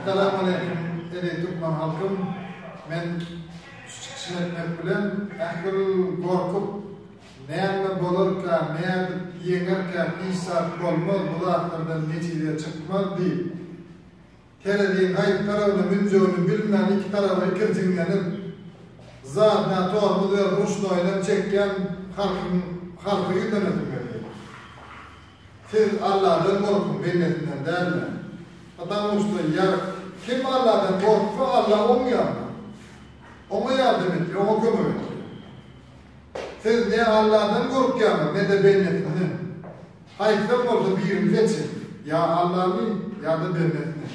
Essalam aleýkum eziz türkmen halkym men şu çykyşymy etmek bilen ähli gorkup näme bolarka nädip ýeňerkä hiç zat bolmaz bu zatlardan netije çykmaz diýip tereziň haýsy tarabyna münjegini bilmän iki taraba ikirjiňlenip zadna tormuz berip ruşnoýynam çekýän halkyň halka ýüzlenesim gelýär. Siz Alladan gorkuň bendesinden dälmi? Ptamuşda ýer kim Alladan gorksa Alla oň ýanyna, oňa ýardam etýär, oňa kömek etýär. Siz ne Alladan gorkýaňyz ne-de bendesinden. Haýsam bolsa birini seçiň, ýa Allany, ýa-da bendesini.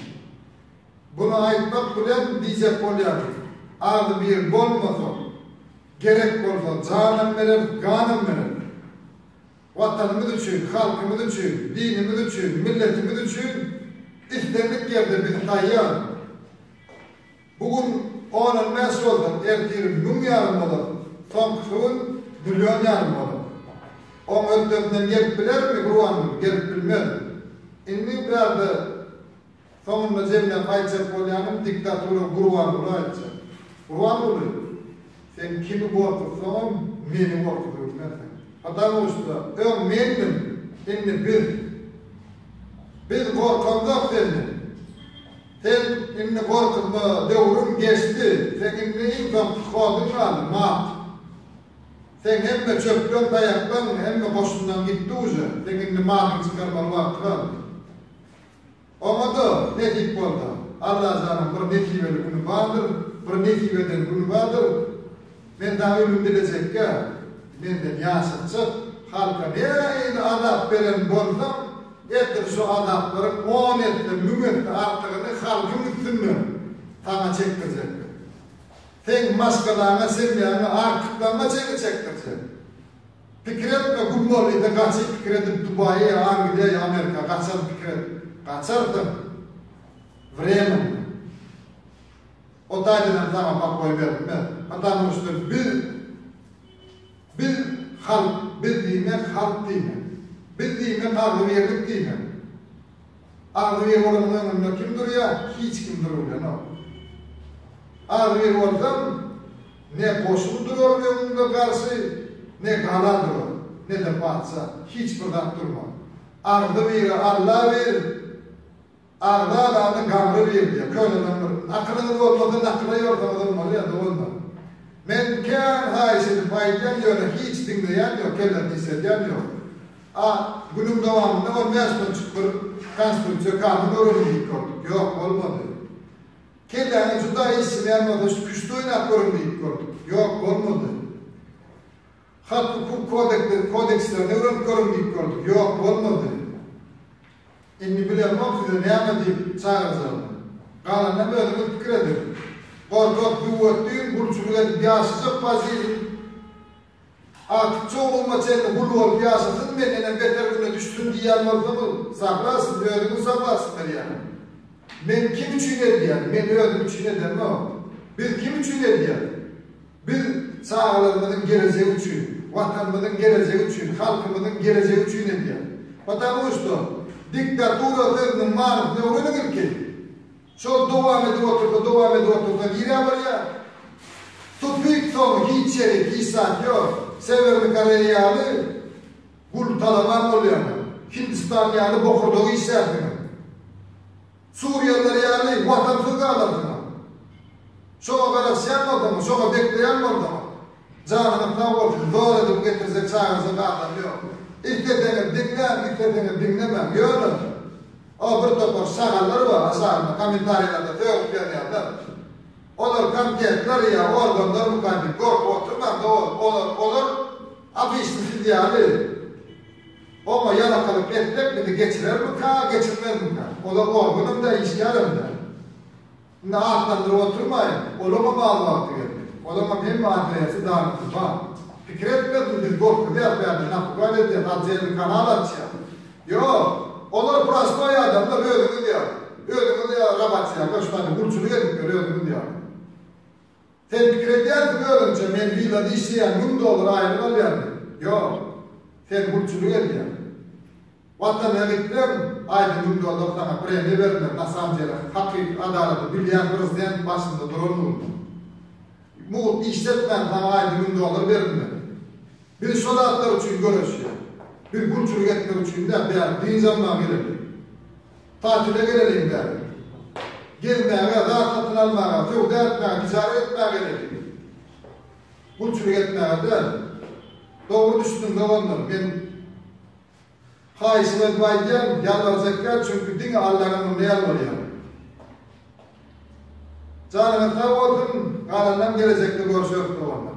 Buny aýtmak bilen diýjek bolýarys, Agzybir bolmasak, gerek bolsa janam bereris, ganam bereris. Watanymyz üçin, halkymyz üçin, dinimiz üçin, milletimiz üçin islendik ýerde bizi saýýar. Bu gün on on bäş bolsa, ertir müň ýarym bolar, soňkusy gün million ýarym bolar. Oň hötdesinden gelip bilermi Gurbanguly? Gelip bilmez. Indi biraz-da. Soňunda zemlä gaýtjak bolýanym diktatura Gurbanguly aýtjak. Gurbanguly, sen kimi gorkuzsaňam meni gorkuzybilmersiň. Patamoşda öň mendim, indi biz. Biz gorkamzok senden. Sen indi gorkuzma, döwrüň geçdi. Seň indi iň soňky hoduň galdy, mat. Seň hemme çöpleň, taýaklaň, hemme goşunlaň gitdi uja. Seň indi matyňy çykarmaly wagty galdy. Oňa-da nesip bolsa, Allajanyň bir nesibeli güni bardyr, bir nesip eden güni bardyr. Men dagy ölüm dilejekkä, menden ýaşatjak halka nähili azap beren bolsam, ertir şu azaplaryň on esse, müň esse artygyny halkyň üstünde saňa çekdirjekdim. Seň maşgalaňa, semýaňa artyklanma çeki çekdirjek. Pikir etme güm bol ine gaçyp pikir edip dubaýa ýa angliýa ýa amerika gaçar pikir et gaçarsyň wremyňda o taýdanam saňa pakoý beripmez patamu şda biz biz halk biz diýmek halk diýmek biz diýmek agzybirlik diýmek Agzybir bolanyň öňünde kim durýar? Hiç kim durubilenok. Agzybir bolsaň, ne goşun durar öňüňde garşy, ne gala durar, ne-de patyşa, hiç bir zat durmaz. Agzybiri Alla bir, agzy alany gabry bir diýýär. Köneden bir Nakylyňyz bolmasa, nakyla ýorsaňyzam bolýar, doganlar. Men kän haýyş edip aýdýan, ýöne hiç diňleýän ýok, kellesini işledýän ýok. A. Günüň dowamynda on bäş ton çukur, konstruksiýa, kamen öwrenip ýitgördük. Ýok, bolmady. Kelläňe juda işjeňýän bolsa şu küşti oýnap görüň diýip gördük. Ýok, bolmady. Hak-hukuk kodekleri, kodekslerini öwrenip görüň diýip gördük. Ýok, bolmady. Indi bilemok size näme diýip çagyrjagymy. Galanynam özüňiz pikir ediň. Gorkak düwwetdin, gulçulyk edip ýaşajak waziriň Artyk çowlugma çenli gul bolup ýaşasyn men enem beter güne düşsün diýýän bolsaňyz saglabsyz özüňiz jogapsyz berýäňiz. Men kim üçin edýän men özüm üçin edemok. Biz kim üçin edýäs? Biz çagalarymyzyň gelejegi üçin, watanymyzyň gelejegi üçin, halkymyzyň gelejegi üçin edýäs. Patamu şto diktatura sözüniň manysyny öwreniň ilki. Şol dowam edip otursa, dowam edip otursa nirä barýar? Tupik soňy hiç ýeri, hiç zat ýok. Sewerni Koreýa ýaly gul talaban bolýaňyz. Hindistan ýaly bokurdagy işlärsiňiz. Suriýalylar ýaly watansyz galarsyňyz. Şoňa garaşýan bolsaňyz, şoňa bekleýän bolsaňyz. Janyňyz sag bolsun, zor edip getirjek çagajyk adam ýok. Isleseňiz diňläň, isleseňiz diňlemäň. Ýöne, o bir topar şagallar bar, aşagynda kommentariýalarda sögüp ýazýarlar. Olar konfetler ýa organlarmyka diýip gorkup oturmaň dogan, olar, olar obişni siz ýaly oňa ýalakalyk etsek bizi geçirermika, geçirmezmika. Olar organam däl, işgärem däl. Indi atlandyryp oturmaýyn, olaňam az wagty gelmedi. Olaňam hemme adreýasy danypdy, bar. Pikir etmezmi, biz gorkuzýas bärde, napugat edýäs, otdelny kanal açýas. Ýok, olar prostoý adamlar, özüňiz ýaly. Özüňiz ýaly robotyýa, göçmany, gulçulyk edipler, özüňiz ýaly. Sen pikir edýärsiň özüňçe, men willada işleýän, müň dollar aýlyk alýan diýip. Ýok. Sen gulçulyk edýäň. Watanyňa gitseň, aýda müň dollar saňa premiýa berler, nasamdele, hakyky adalady bilýän prezident başynda duran munda. Mugt işletmän saňa aýda müň dollar berilmez. Biz şo zatlar üçin göreşýäs. Biz gulçulyk etmek üçin däl, bu ýerde dynç almaga gelendik. Tatile geleliň däl. Gezmäge, zat satyn almaga, söwda etmäge, tijaret etmäge geleliň. Gulçulyk etmäge däl. Dogry düşüniň, doganlar, men haýyşymy edip aýdýan, ýalbarjak däl, çünki diňe Allanyň ömrüne ýalbarýan. Janyňyz sag bolsun, galanynam gelejekde görüşeris, doganlar.